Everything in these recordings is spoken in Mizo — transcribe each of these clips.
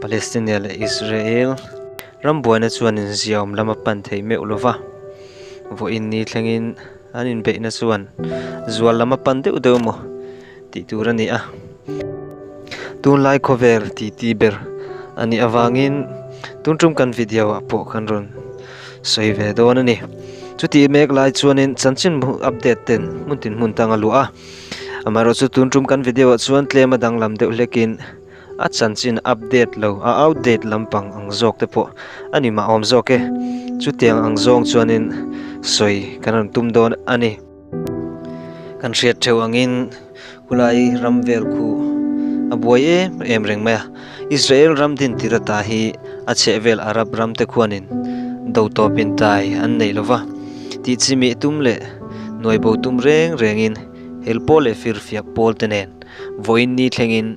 Palestine leh Israel rambuaina chuan inziaawm lama pan theih meuh lova vaw in ni thlengin an inbeihna chuan zual lama pan deuh deuh maw tih tur a ni a. Tunlai khawvel titi ber a nih avangin tun tum kan video ah pawh kan rawn sawi ve dawn a ni. Chutih mek lai chuanin chanchin update ten hmun tin hmun tang a luah a, amaherawhchu tun tum kan video ah chuan tlema danglam deuh hlekin, A chanchin a update lo, a outdate lampang ang zawk te pawh a ni mahawm zawk e. Chutiang ang zawng chuanin sawi kan rawn tum dawn a ni. Kan hriat theuh angin khulai ram vel khu a buai em em reng mai a. Israel ram din tira ta hi a chhehvel Arab ram te khuanin do tawpin tlai an nei lo va, tih chimih tum leh nuai bo tum reng rengin helpawl leh firfiak pawl te nen vawiin ni thlengin,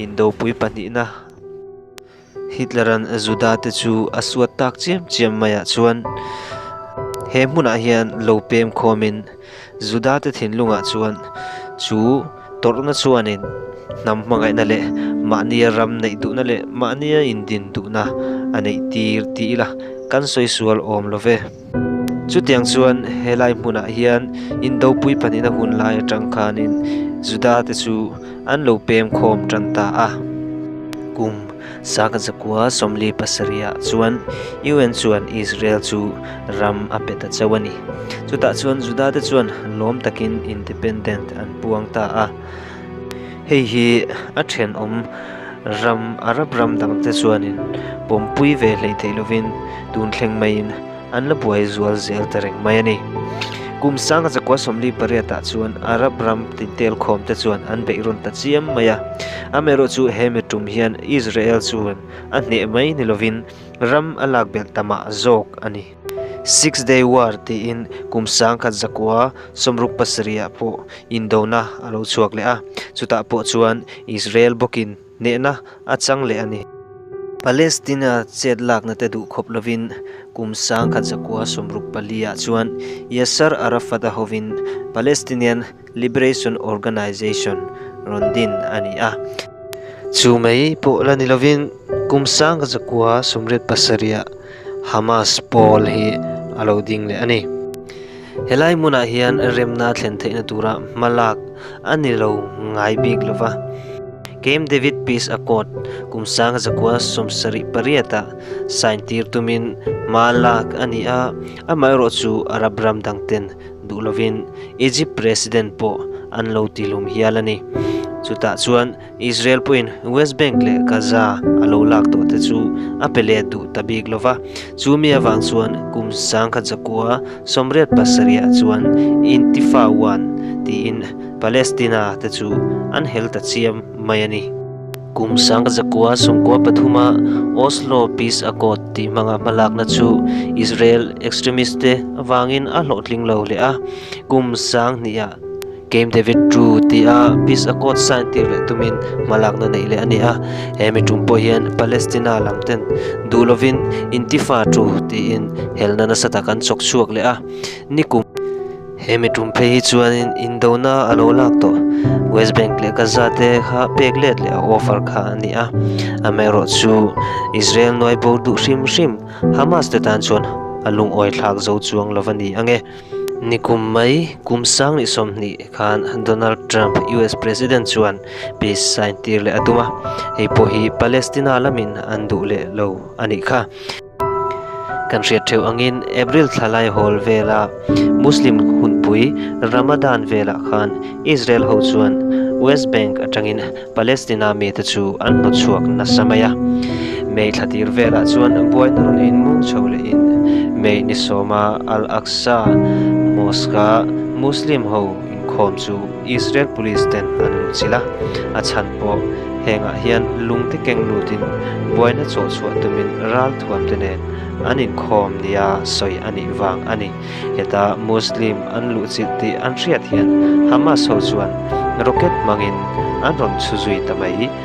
Indopui pahnihna Hitleran Judate chu a suat tak chiam chiam mai ah chuan he hmunah hian lo pem khawm in Judate thinlungah chuan chu tawrhna chuanin hnam hmangaihna leh mahnia ram neih duhna leh mahnia indin duhna a neih tir tih ila kan sawi sual awm lo ve. Chutiang chuan helai hmunah hian Indo puipanina hun lai atang khanin Judate chu an lo pem khawm tan ta a. Kum saka zakua sawmli pasariah chuan UN chuan Israel chu ram a pe ta chauh a ni. Chutah chuan Judate chuan lawm takin independent an puang ta a. Hei hi a thenawm ram Arab ram dangte chuanin pawmpui ve hleih theih lovin tun thleng maiin an la buai zual zel ta reng mai a ni. Kum sanga chakua sawmli pariatah chuan Arab ram tintel khawmte chuan an beih rawn ta chiam mai a. Amerawh chu he mi tum hian Israel chuan a hneh mai ni lovin ram a lak belh ta mah zawk a ni. Six Day War tiin kum sang khat zakua sawmruk pasarihah pawh indona a lo chhuak leh a, chutah pawh chuan Israel bawkin hnehna a chang leh a ni. Palestina chetlaknate duh khawp lovin kum sang khat zakua sawmruk pali ah chuan Yasser Arafat a hovin Palestinian Liberation Organisation rawn din a ni a. Chu mai pawh la ni lovin, kum sang ka zakua sumret pasarih ah Hamas pawl hi a lo ding leh a ni. Helai hmunah hian remna a thlen theihna tura hmalak a ni lo ngai bik lova. Camp David Peace Accord kum sang ka zakua sawmsarih pariat ah sign tir tumin hmalak a ni a, amaherawhchu Arab ram dangten, duh lovin Egypt President pawh an lo ti hlum hial a ni. Chutah chuan Israel pawhin West Bank leh Gaza a lo lak tawh te chu a pe leh duh ta bik lo va. Chu mi avang chuan kum sangkhat zakua sawmriat pasarihah chuan Intifa one tiin Palestina te chu an hel ta chiam mai a ni. Kum sang ka zakua Sungkua pathuma Oslo Peace Accord tih hmanga hmalakna chu Israel extremist te avangin a hlawhtling lo hle a. Kum sang hnih ah Camp David ru tih a Peace Accord sign tir leh tumin hmalakna neih leh a ni a. He mi tum pawh hian Palestina lam ten duh lovin Intifa ru tiin helna nasa tak an chawk chhuak leh a. Ni kum. He miṭum phei hi chuanin indona a lo lak tawh. West Bank leh Gaza te kha pek let leh a offer kha a ni a. Amerawh chu Israel nuai bawr duh hrim hrim. Hamas te tan chuan a lungawi thlak zo chuang lo va ni ang e. Nikum mai kum sang leh sawmhnih khan Donald Trump US President chuan peace sign tir leh a tum a. Hei pawh hi Palestina lamin an duh leh lo a nih kha. Kan hriat theuh angin April thla lai hawl vela Muslim hunpui Ramadan velah khan Israel ho chuan West Bank atangin Palestina mite chu an hnuchhuak nasa mai a. May thla tir velah chuan buaina rawn inmung chho lehin May ni sawma Al-Aqsa Mosque-a Muslim ho inkhawm chu, Israel police ten an lung chilh a, a chhan pawh hengah hian lung te keng lut in buaina chawh chhuah tum in ral thuam te nen an in khawm nia sawi a nih vang a ni. Heta Muslim an luh chilh tih an hriat hian Hamas ho chuan rocket hmang in an rawn chhu zui ta mai.